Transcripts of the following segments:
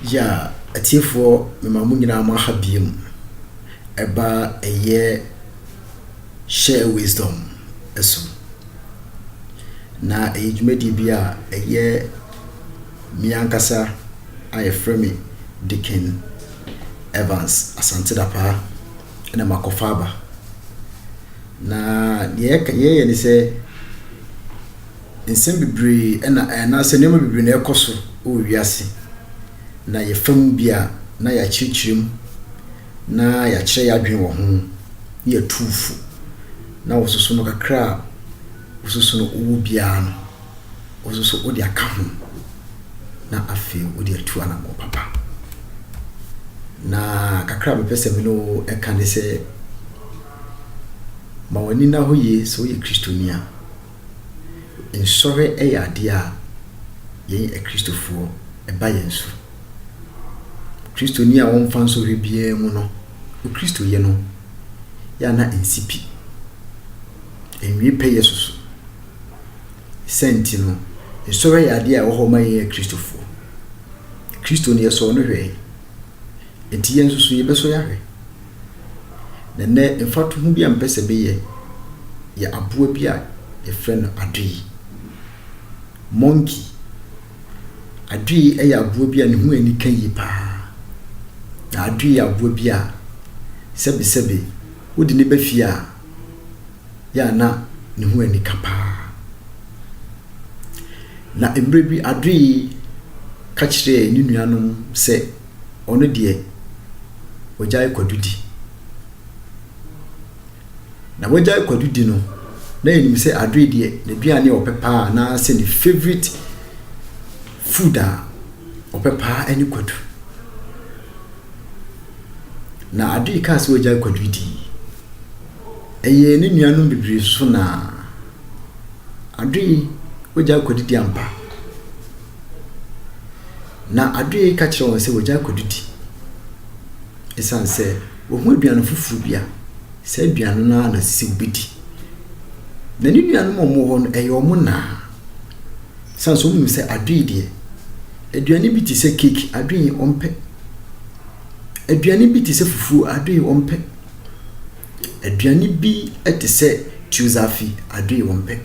Yeah atiefoɔ mema mo nyinaa mo aha biom ɛba ɛyɛ share wisdom so na ɛyɛ dwumadie bi a ɛyɛ me ankasa a yɛfrɛ me Dicken Evans Asante Dapaah na makɔfa aba na deɛ yɛyɛ ne sɛ Nsɛm bebree na anaasɛ nneɛma bebree na ɛrekɔ so wɔ wiase, na yɛfa mu bi a, na yɛakyerɛkyerɛ mu, na yɛakyerɛ yɛn adwene wɔ ho, na yɛatu wo fo. Na wo nso so no, kakra a wo nso so no wowɔ biara no, wo nso so wode aka ho, na afei wode atu anammɔn papa. Na kakra a mepɛ sɛ me ne wo ɛka ne sɛ, ma w'ani nna hɔ yie sɛ woyɛ Kristoni a. Nsɔre yɛ adeɛ a yɛn Akristofoɔ ɛba yɛn so. Kristoni a ɔmfa nsɔhwɛ biara mu no, Okristoyɛ no yɛ a na nsi pi. Ɛnwie pɛ yɛ soso. Sɛ nti no, nsɔre yɛ adeɛ a ɛwɔ hɔ ma yɛn Akristofoɔ. Kristo no yɛsɔɔ no hwɛe. Nti yɛn nso so yɛbɛsɔ yɛahwɛ. Na ɛnnɛ mfatoho bi a mepɛ sɛ meyɛ yɛ aboa bi a yɛfrɛ no adoe, monkey. Adoe yɛ aboa bi a ne ho ani ka yie paa. Na adoe yɛ aboa bi a sɛbesɛbe wode no ba fie a, yɛ a na ne ho ani ka paa. Na mmerɛ bi adoe ka kyerɛɛ ne nuanom sɛ. ɔno deɛ ɔgyae kwadu di. Na wagyae kwadu di no, na yɛnim sɛ adoe deɛ n'aduane a ɔpɛ paa anaasɛ ne favourite food a ɔpɛ paa ne kwadu. Na adoe kaa sɛ wagyae kwadu di. Ɛyɛɛ ne nuanom bebree so na adoe wagyae kwadu di ampa. Na Adoe ka kyerɛɛ wɔn sɛ wɔagyae akɔdidi esiane sɛ wɔahu aduane foforo bi a saa aduane no ara na ɛsɛ sɛ wobedi. Na ne nuanom a wɔwɔ hɔ no, ɛyɛ wɔn naa. San so wɔnim sɛ Adoe deɛ, aduane bi te sɛ keeki, Adoe ɔmpɛ. Aduane bi te sɛ fufuo, Adoe ɔmpɛ. Aduane bi te sɛ tuozafi, Adoe ɔmpɛ.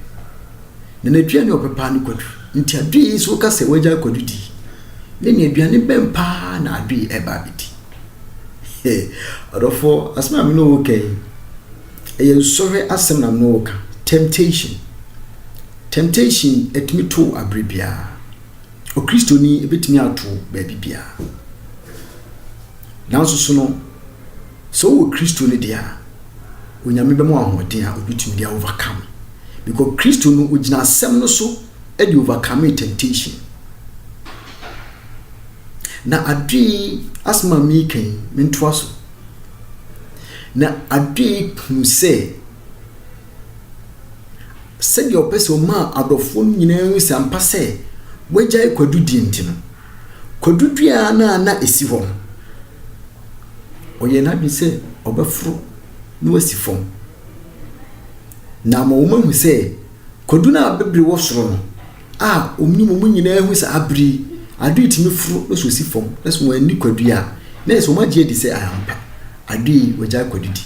Na n'aduane a ɔbɛpaa ne kwadwo. Nti Adoe yi so ka sɛ wagyae kwadwo di? Me ne aduane bɛn paa na Adoe ɛreba abɛdi? Hey, ɔdɔfoɔ, asɛm a me ne wo ka yi, ɛyɛ nsɔhwɛ asɛm na me ne wo ka. Temptation. Temptation ɛtumi to abere biara. Okristoni ɛbɛtumi ato baabi biara. Nanso so no, Sɛ wowɔ Kristo no deɛ a, Onyame bɛma wo ahoɔden a wobɛtumi de a overcome. Because Kristo no ogyina asɛm no so de overcomee temptation. Na adwene yi, asɛm a mereka yi, mentoa so. Na adwene yi hunu sɛ, sɛdeɛ ɔpɛ sɛ ɔma adɔfoɔ no nyinaa hu sɛ ampa sɛ wagyae kwadudie nti no, kwadudie a na na ɛsi hɔ no, ɔyɛɛ n'adwene sɛ ɔbɛforo na wasi fam. Na ama wɔahu sɛ kwadu no a bibire wɔ soro no a wɔnim wɔn nyinaa hu sɛ abere yi adoe tumi foro na so si fam na sɛ wɔanni kwadu a na ɛsɛ wɔagye adi sɛ ampa adoe yi wɔagyae kwadu di.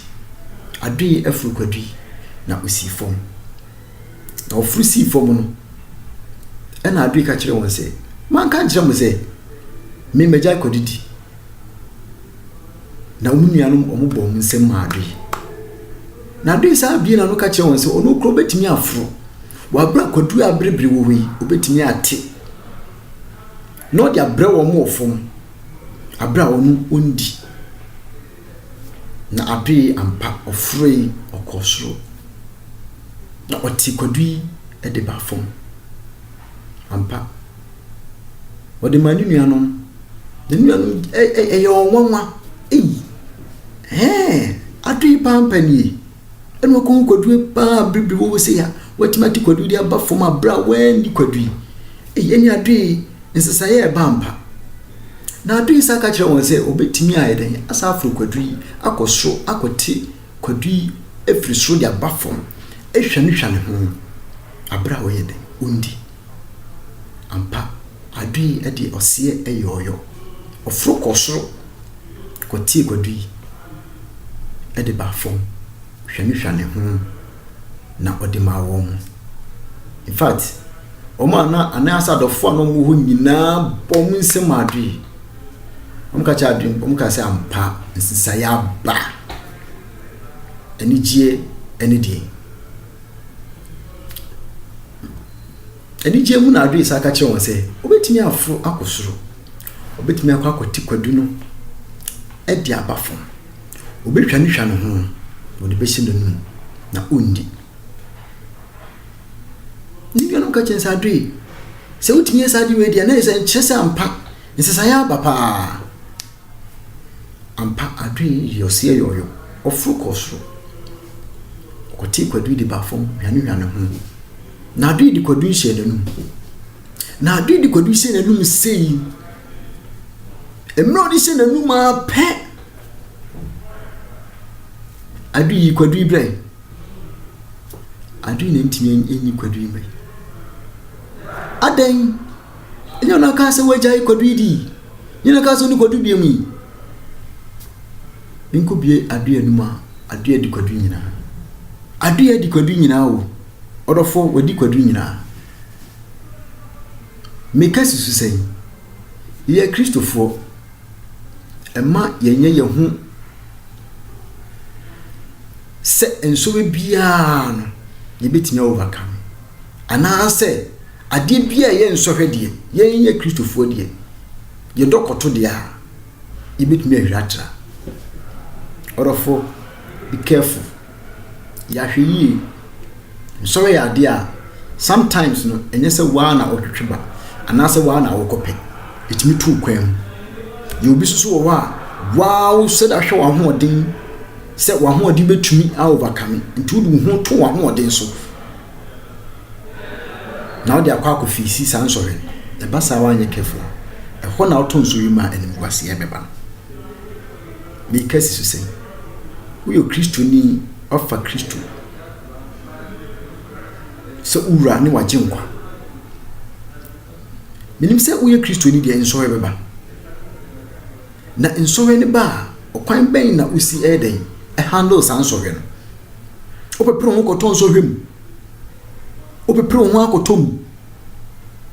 Adoe aforo kwadu yi na osii fam. Na ɔforo sii fam no ɛna adoe ka kyerɛ wɔn sɛ manka nkyerɛ mo sɛ me magyae kwadu di. Na wɔn nuanom wɔbɔɔ wɔn nsam maa adoe. Na adoe saa abien na no ka kyerɛ wɔn sɛ, ɔno kura obetumi aforo. Wɔ abere a kwadua a abiribiri wɔ hɔ yi, obetumi ate. Na ɔde abrɛ wɔn wɔ fam, abere a ɔno ondi. Na adoe ampa, ɔforoe, ɔkɔɔ soro. Na ɔtee kwadu yi de baa fam. Ampa. Ɔde maa ne nuanom. Ne nuanom ɛyɛ wɔn nwanwa. Ei! Ɛɛ! Ado yi paa mpa nie. Ɛna wɔkɔhu kwadu yi paa bere bi wɔwɔ sei a, wɔatumi ate kwadu yi de aba fam a bere a wɔanni kwadu yi. Ei, ɛne ado yi nsesaeɛ a ɛba ampa. Na ado yi san ka kyerɛ wɔn sɛ wɔbɛtumi ayɛ dɛn? Asan aforo kwadu yi akɔ soro akɔte Kwadu yi firi soro de aba fam hwanihwani ho aberɛ a ɔyɛ dɛn? Ɔndi. Ampa, Ado yi deɛ ɔseɛ yɔɔyɔ. Ɔforo kɔɔ soro kɔtee Kwadu yi de baa fam hwanihwani ho na ɔde maa wɔn. In fact, wɔn a na anaa sɛ adɔfoɔ a na wɔwɔ hɔ nyinaa bɔɔ wɔn nsam maa Ado yi. Wɔka kyerɛ adwene, wɔka sɛ ampa nsesaeɛ aba. Anigyeɛ ɛne deɛ. Anigyeɛ mu na adwene sa ka kyerɛ wɔn sɛ wɔbɛtumi aforo akɔ soro. Wɔbɛtumi akɔ akɔte kwadu no ɛde aba fam. Wɔbɛtwa ne hwa no ho, wɔde bɛhyɛ n'anum na ɔndi. Ne nuanom ka kyerɛ no sɛ, Adwee, sɛ wotumi yɛ saa ade wei deɛ, na ɛsɛ nkyerɛ sɛ ampa nsesaeɛ aba paa. Ampa adwee yɛ ɔseɛ yɔyɔ. Ɔforo kɔɔ soro. Ɔkɔtee kwadui de baa fam, hwanehwa ne ho. Na adwee de kwadui hyɛɛ n'anum. Na adwee de kwadui hyɛɛ n'anum sei. Mmerɛ ɔde hyɛ n'anum ara pɛ, adwee yi kwadui brɛ. Adwene na ntumi nyi kwadwiri mmiri. Adɛn? Ɛnyɛ ɔno aka sɛ wagyae kwadwiri di. Ɛnyɛ ɔno aka sɛ ɔne kwadwiri bie mu yi. Menkɔ bie adeɛ anum a adeɛ di kwadwiri nyinaa. Adeɛ di kwadwiri nyinaa o. Ɔdɔfo wadi kwadwiri nyinaa. Meka susu sɛn? Yɛyɛ Kristofoɔ. Ɛma yɛnyɛ yɛn ho sɛ nsɔre biara no yɛbɛtumi a overcome anaasɛ adeɛ biara ɛyɛ nsɔhwɛ deɛ yɛnyɛ kristofoɔ deɛ yɛdɔ kɔto deɛ a yɛbɛtumi ahwira atra ɔdɔfo be careful Yɛahwɛ yie, nsɔre yɛ adeɛ a sometimes no ɛnyɛ sɛ wo ara na wotwetwe ba anaasɛ wo ara na wokɔpɛ. Ɛtumi tu wo kwan mu. Yɛwɔ obi nso so wɔ hɔ a, wo ara wosɛ da hwɛ w'ahoɔden sɛ w'ahoɔden bɛtumi a overcome nti wode wo ho to w'ahoɔden so na wode akɔ akɔfiisi saa nsɔre no. Ɛba saa woanyɛ careful a, ɛhɔ na wotɔ nsɔre mu a animguaseɛ bɛba no. Meeka si so sɛ, woyɛ Kristoni a woafa Kristo sɛ wo Wura ne w'Agyenkwa. Menim sɛ woyɛ Kristoni deɛ, nsɔhwɛ bɛba. Na nsɔhwɛ no ba a, ɔkwan bɛn na wosi ɛyɛ dɛn? Ɛhandle saa nsɔhwɛ no. Wopepere wo ho kɔtɔ nsɔhwɛ mu. Wopepere wo ho akɔtɔ mu.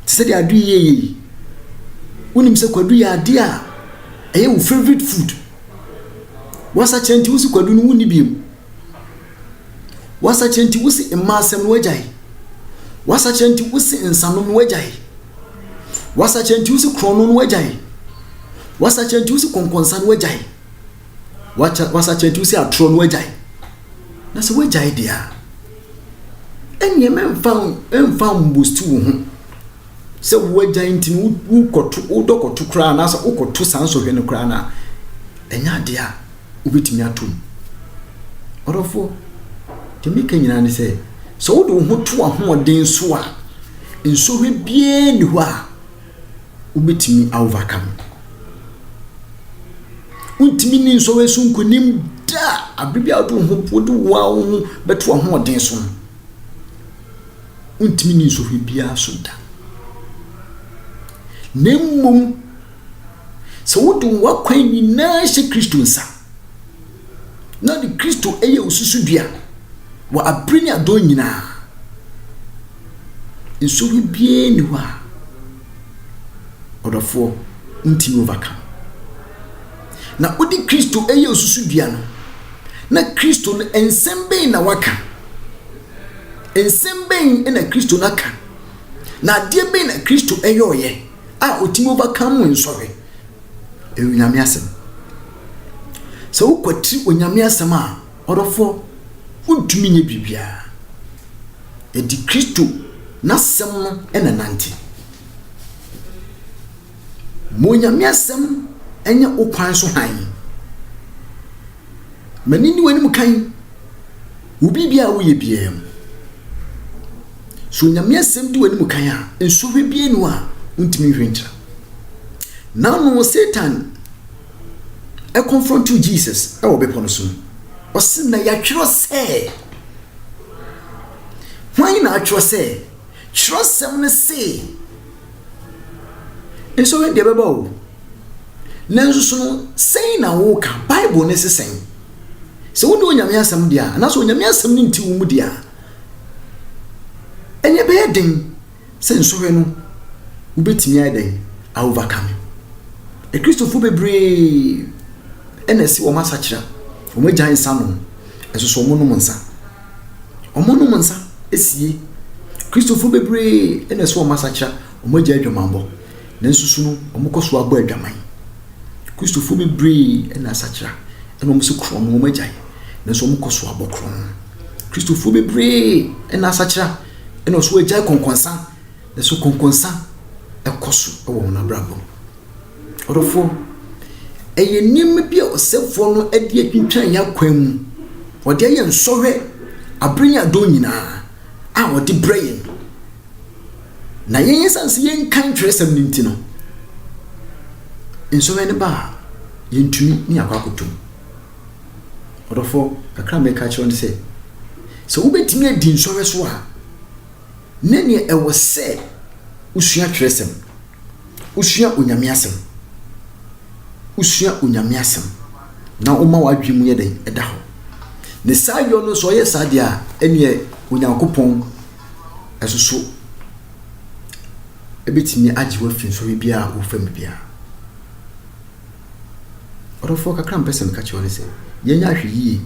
te sɛ deɛ adu yi yɛyɛ yi wonim sɛ kwadu yɛ adeɛ a ɛyɛ wo favorite food wasakyerɛ nti wosi kwadu no wonni biem wasakyerɛ nti wosi mmaa asɛm no wagyae wasakyerɛ nti wosi nsanom no wagyae wasakyerɛ nti wosi korɔno no wagyae wasakyerɛ nti wosi kɔnkɔnsa no wagyae wasakyerɛ nti wosi atorɔ no wagyae na sɛ wagyae deɛ a Ɛnneɛ mɛmfa mfa mbosti wo ho sɛ wo agyan nti no wokɔto wodɔ kɔto koraa anaasɛ wokɔto saa nsɔhwɛ no koraa no a ɛnyɛ adeɛ a wobɛtumi ato mu ɔdɔfoɔ deɛ meka nyinaa ne sɛ sɛ wode wo ho to ahoɔden so a nsɔhwɛ biara nni hɔ a wobɛtumi a overcome. Wontumi ni nsɔre so nkonim da abere bi a wode wo ho wode wo a wo ho bɛto ahoɔden so no. Wontumi ni nsɔre biara so da. Na mmom sɛ wode w'akwan nyinaa hyɛ Kristo nsa na ɔde Kristo yɛ wo susudua wɔ abere ne adɔn nyinaa. Nsonoe biara nni hɔ a, ɔdɔfoɔ, wontumi overcome. Na wode Kristo yɛ wo susudua no, na Kristo no nsɛm bɛn na waka? Nsɛm bɛn na Kristo no aka? Na adeɛ bɛn na Kristo yɛɔyɛ a ɔtumi overcome nsɔhwɛ? Ɛyɛ Onyame asɛm. Sɛ wokwatiri Onyame asɛm a, ɔdɔfoɔ, wontumi nyɛ biribiara. Enti Kristo N'asɛm no na ɛnante. Ma Onyame asɛm nyɛ wo kwan so hann. Ma no nni w'anim kan wɔ biribiara a woyɛ biara mu. Sɛ Onyame asɛm di w'anim kan a, nsɔhwɛ biara nni hɔ a wontumi nhwɛ nkyira. N'ano, Satan ɛconfrontiw Jesus wɔ bepɔ no so no, ɔse, Na yɛatwerɛ sɛ. Hwan na atwerɛ sɛ, Twerɛsɛm no se, Nsɔhwɛ deɛ ɛbɛba o, nanso so no sɛn na woka, Bible no se sɛn? Sɛ wone Onyame asɛm deɛ a, anaasɛ Onyame asɛm no nte wo mu deɛ a, ɛneɛ ɛbɛyɛ den. sɛ nsɔhwɛ no, wobɛtumi ayɛ dɛn a overcome? Akristofo bebree na ɛse wɔn asakyera, wɔn agyae nsa nom, nso so wɔnom nsa. Wɔnom nsa sie. Kristofo bebree na ɛse wɔn asakyera, wɔn agyae adwamammɔ, nanso so no wɔkɔ so abɔ adwaman. Kristofo bebree na asakyera na wɔn se korɔn no wɔn agyae, nanso wɔkɔ so abɔ korɔn. Kristofo bebree na asakyera. Ɛna ɔso agyae kɔnkɔnsa. Nanso kɔnkɔnsa ɛkɔ so wɔ wɔn abrabɔ mu. Ɔdɔfoɔ, ɛyɛ nneɛma bi a ɔsɛfoɔ no de atwintwan yɛn akwan mu. Ɔde ayɛ nsɔhwɛ abere ne adɔn nyinaa a ɔde brɛ yɛn. Na yɛn ɛsiane sɛ yɛnkan twerɛsɛm no nti no, nsɔhwɛ no ba a, yɛntumi ne akɔ akɔtom. Ɔdɔfoɔ, kakra a mereka akyerɛ wo ne sɛ, sɛ wobɛtumi adi nsɔhwɛ so a, ne neɛ ɛwɔ sɛ wosua twerɛsɛm, wosua Onyame asɛm, wosua Onyame asɛm, na woma w'adwene mu yɛ dɛn ɛda hɔ. Ne saa yɔ no sɛ ɔyɛ saa deɛ a, ɛneɛ Onyankopɔn ɛsoso ɛbɛtumi agye wo afi nsɔhwɛ biara a wofa mu biara. Ɔdɔfoɔ, kakra a mepɛ sɛ meka kyerɛ wo ne sɛ, yɛnyɛ ahwɛyie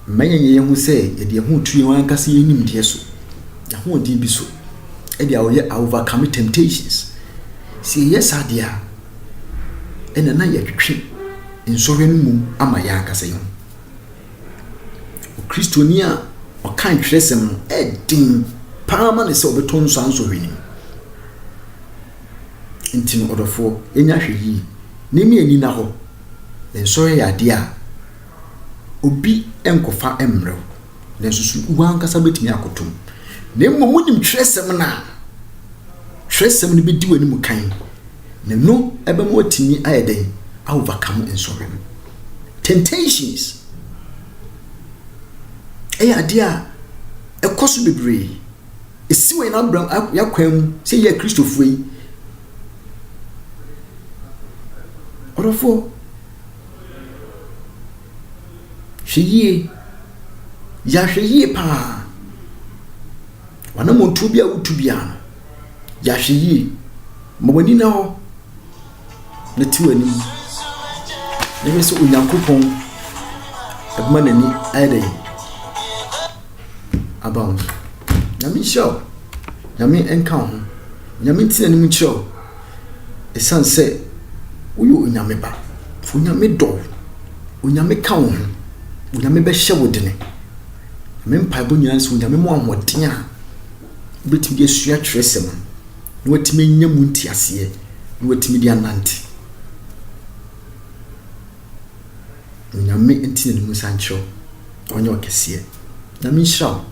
mma yɛnyɛ yɛn ho sɛ yɛde yɛn ho reto yɛn ankasa yɛn nimdeɛ so, yɛn ahoɔden bi so, ɛde a ɔyɛ overcome temptations. Sɛ yɛyɛ saa deɛ a, ɛna na yɛtwetwe nsɔhwɛ no mmom ama yɛn ankasa yɛn ho. Okristoni a ɔka ntwerɛsɛm no ɛden paa ma ne sɛ ɔbɛtɔ nso ansɔhwɛ no mu. Nti no ɔdɔfoɔ, yɛnya hwɛ yie. Ne ne ani nna hɔ. Nsɔeɛ yɛ adeɛ a obi nkɔfa mmrɛ wo, nanso so wo ankasa bɛtumi akɔtɔ mu? Na mmom wonim twerɛsɛm no a, twerɛsɛm no bɛdi w'anim kan, na ɛno bɛma watumi ayɛ dɛn? A overcome nsɔhwɛ no. Temptations yɛ adeɛ a ɛkɔ so bebree. Esiw hɛn abram a hɛn akwan mu sɛ yɛyɛ Kristofo yi. Ɔdɔfoɔ, hwɛ yie, yɛ ahwɛyie pa ara. W'anammɔntuo biara a wotu biara no, yɛ ahwɛyie. Ma w'ani nna hɔ na te w'anim na hwɛ sɛ Onyankopɔn bɛma n'ani ayɛ dɛn. aba wo so. Nyame nhyira wo. Nyame nka wo ho. Nyame ntena anim nkyerɛ wo. Ɛsiane sɛ woyɛ Onyame ba. Onyame dɔ wo. Onyame ka wo ho. Onyame bɛhyɛ wo dene. Me mpaebɔ nyinaa sɛ Onyame mu ahoɔden a wobɛtumi de asua twerɛsɛm no na watumi anya mu nteaseɛ na watumi de anante. Nyame nte na ne mu nsa nkyerɛ wo ɔnyɛ ɔkɛseɛ Nyame nhyira wo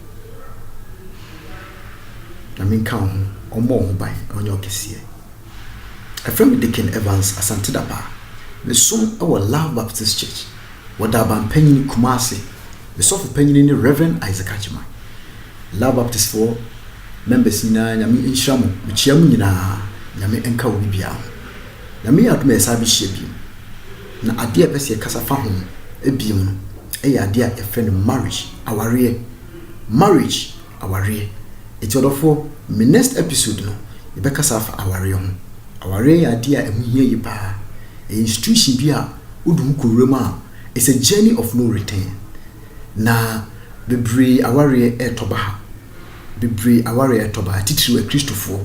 Nyame nka wo ho ɔmmɔ wo ho ban ɔnyɛ ɔkɛseɛ Ɛfrɛ me Dicken Evans Asante Dapaah Me som wɔ Love Baptist Church wɔ Daaban Panyini, Kumasi Me sɔfo panyini ne Rev. Isaac Agyema Love Baptist foɔ members nyinaa Nyame nhyira mo Mekyia mo nyinaa Nyame nka obi biara ho Nyame yɛ adom a yɛsan bɛhyia bio Na adeɛ a yɛpɛ sɛ yɛkasa fa ho bio no yɛ adeɛ a yɛfrɛ no marriage, awareɛ. Marriage, awareɛ. Nti ɔdɔfoɔ, me next episode no, yɛbɛkasa afa awareɛ ho. Awareɛ yɛ adeɛ a ɛho hia yie pa ara. Ɛyɛ institution bi a wode mu kɔwura mu a, it's a journey of no return. Na bebree awareɛ retɔ ba ha, bebree aware a ɛtɔbae, titiriw Akristofoɔ.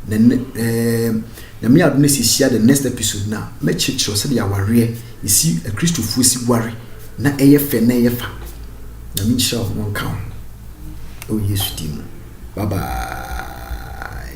Na nnɛ, eem, Nyame adom na sɛ hyia the next episode no a, mɛkyerɛkyerɛw sɛdeɛ awareɛ, esi, Akristofoɔ si ware na ɛyɛ fɛ na ɛyɛ fa. Nyame nhyira wo na ɔnka wo ho wɔ Yesu din mu. Bye bye.